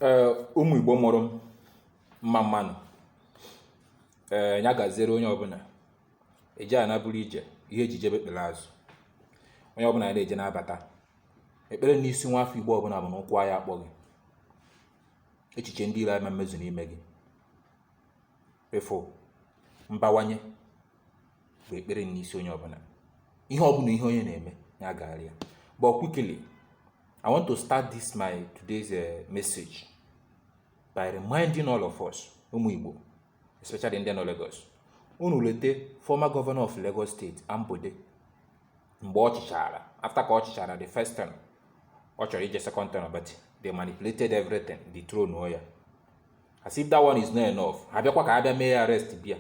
ee ụmụ igbo mụrụ m mma mma nụ ee ya gaziere onye ọbụla eje ana bụrụ ije ihe eji jebe ekpele azụ onye ọbụla ya na-eje na-abata ekpere n'isi nwa afọ igbo ọbụla bụ na ụkwụ ya akpọ gị echiche ndị iro ama emezu n'ime gị ịfụ mbawanye bụ ekpere n'isi onye ọbụla ihe ọbụla ihe onye na-eme ya gaara ya but quickly i want to start this my today's uh, message by reminding all of us ụmụ igbo especially ndị nọ Lagos unu lete former governor of Lagos State Ambode mgbe ọ chịchara after ka ọ chịchara the first term ọ chọrọ ije second term but they manipulated everything dethrone ya as if that one is not enough ha bịakwa ka a bịa mee arrest bịa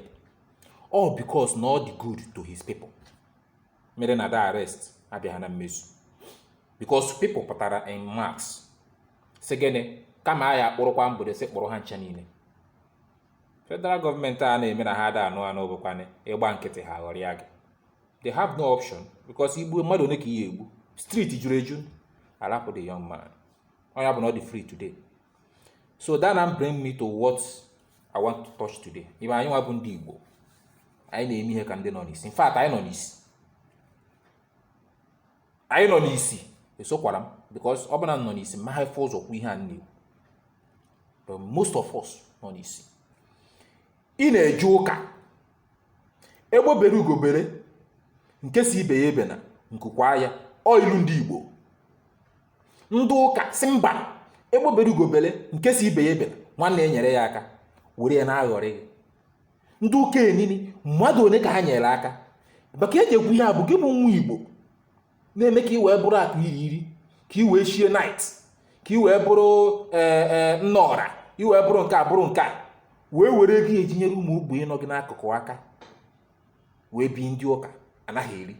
all because na ọ dị good to his people mere na that arrest abịaghị na mmezu because people pụtara in mass sị gịnị kama a ya akpụrụkwa Ambode sị kpụrụ ha ncha niile federal government a na-eme na ha ada anụ anụ bụkwanụ ịgba nkịtị ha ghọrịa gị they have no option because igbu mmadụ one ka ị ya egbu street juru eju a rapụ the young man onye bụ na ọ dị free today so that now bring me to what i want to touch today ibe anyị nwa bụ ndị igbo anyị na-eme ihe ka ndị nọ n'isi in fact anyị nọ n'isi anyị nọ n'isi esokwara m because ọ bụ na m nọ n'isi ma ha afụ ụzọ kwuo ihe a na-ekwu but most of us nọ n'isi ị na-eje ụka egbe bere ugo bere nke si ibe ya ebena nku kwaa ya ọ ilu ndị igbo ndị ụka si mba egbe bere ugo bele nke si ibe ya ebele nwanne enyere ya aka were ya na-aghọrị gị ndị ụka enini mmadụ one ka ha nyere aka maka eji ekwu ihe a bụ gị bụ nwa igbo na-eme ka ị wee bụrụ akụ iri iri ka ị wee shie knight ka ị wee bụrụ ee e, nna ọra ị wee bụrụ nke a bụrụ nke a wee were ego ị ya eji nyere ụmụ ogbenye nọ gị n'akụkụ aka wee bi ndị ụka anaghị eri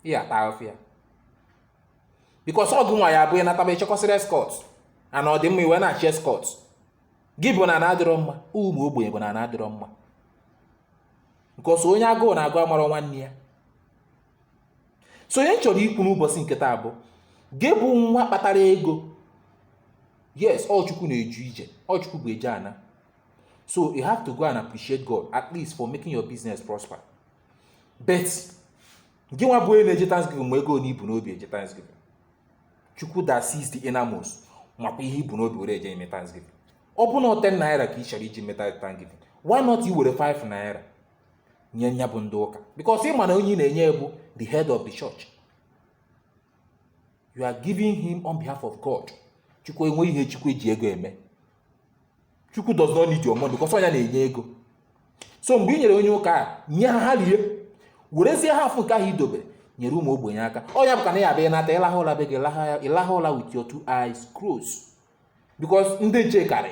ị ya ata ahụfụ ya because ọgụ nwa ya abụ ị nataba ị chịkọsịrị escort ana ọ dị mma ị wee na-achị escort gị bụ na ana adịrọ mma ụmụ ogbenye bụ na ana adịrọ mma because onye agụụ na-agụ amarọ nwanne ya so onye m chọrọ ikwu n'ụbọchị nke taa bụ gị bụ nwa kpatara ego yes ọ chukwu na-edu ije ọ chukwu bụ eje ana so you have to go and appreciate god at least for making your business prosper but gị nwa bụ onye na-eje thanksgiving ma ego one i bu n'obi eje thanksgiving chukwu that sees the innermost makwa ihe i bu n'obi were eje ime thanksgiving ọ bụ na 10 naira ka ị chọrọ iji meta thanksgiving why not i were 5 naira nye nya bụ ndị ụka because ị ma na onye ị na-enye bụ the head of the church you are giving him on behalf of god chukwu enweghị ihe chukwu eji ego eme chukwu does not need your money because ọ nya na-enye ego so mgbe ị nyere onye ụka a nye ha ha rie werezie half nke ahụ i dobere nyere ụmụ ogbenye aka ọ nya bụ ka na ị ya abịa nata ị laha ụla be gị ị laha ụla with your two eyes closed because ndị nche karị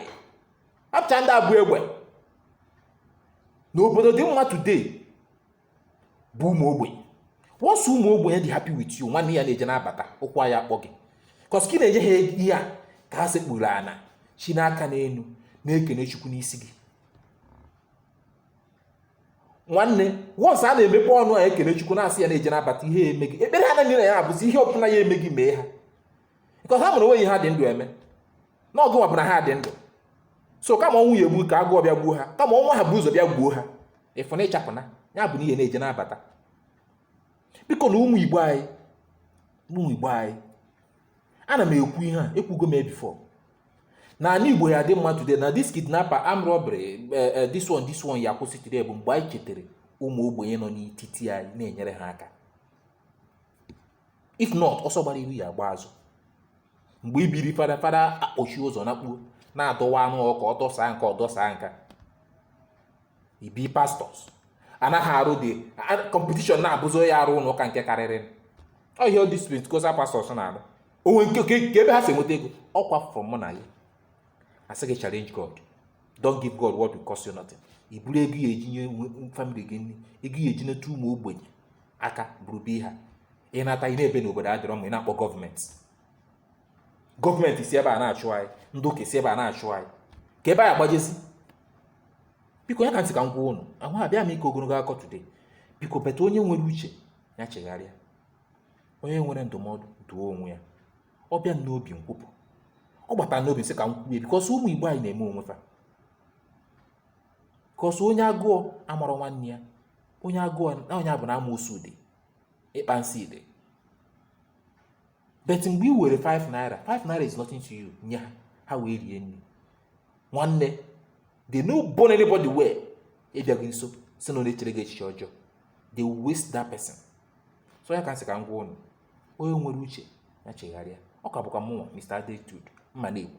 hapụcha ndị a bu egbe na obodo dị mma today bụ ụmụ ogbenye once ụmụ ogbenye dị happy with you nwanne ị ya na-eje na-abata ụkwụ ya akpọ gị cos ka ị na-enye ha ihe a ka ha sekpuru ana chinie aka n'elu na-ekene chukwu n'isi gị nwanne once a na-emepe ọnụ a ekene chukwu na-asị ya na-eje na-abata ihe eme gị ekpere ha niine ya abụzi ihe ọbụla ya eme gị mee ha cos ha maara onweghị ihe ha dị ndụ eme na ọ gị nwa bụ na ha dị ndụ so kama ọnwụ ya egbu ka agụọ bịa gbuo ha kama ọnwụ ahụ bu ụzọ bịa gbuo ha ị fụ na ịchapụ na ya bụ na ị ya na-eje na-abata biko na ụmụ igbo anyị ụmụ igbo anyị ana m ekwu ihe a ekwugo m before na ala igbo ya dị mma today na this kidnapper arm robbery eh, eh, this one this one ya kwụsị today bụ mgbe anyị chetara ụmụ ogbenye nọ n'etiti anyị na-enyere ha aka if not ọsọ gbara iru ya agba azụ mgbe ibiri fada fada akpọchi ụzọ nakpuo na-adọwa anụ ọkụkọ ọ dọsaa nke a ọ dọsaa nke a ibi pastors anaghị arụ dị competition na-abụzi onye arụ ụlọ ụka nke karịrị ọhịa ọ disprit kosa pastors na-arụ onwe nke kee ebe ha si enweta ego ọkwa from mụ na gị a sị gị challenge god don't give god what will cost you nothing i buru ego ị ya eji nye family gị nri ego ị ya eji neta ụmụ ogbenye aka buru be ha ị nata ị na-ebe na obodo adịrọ mma ị na-akpọ government government si ebe a na-achụ anyị ndị ụka si ebe a na-achụ anyị kee ebe anyị ya agbajezi biko nya ka m sị ka m gwa ụnụ abịarọ m ịkọ ogologo akụkọ today biko but onye nwere uche ya chegharịa onye nwere ndụmọdụ duo onwe ya ọ bịa m n'obi m kwupụ ọ bata m n'obi m sị ka m kwuo because ụmụ igbo anyị na-eme onwe fa cos onye agụọ amarọ nwanne ya onye agụọ na onye abụ na amoosu dị ịkpa nsị dị but mgbe i were 5 naira 5 naira is nothing to you nye ha ha wee rie nri nwanne they no born anybody well ịbịa gị nso sị na ọ na-echere gị echiche ọjọọ they waste that person so nya ka m sị ka m gwa ụnụ onye nwere uche ya chegharịa ọ ka bụkwa mụnwa Mr. Attitude mma na-ekwu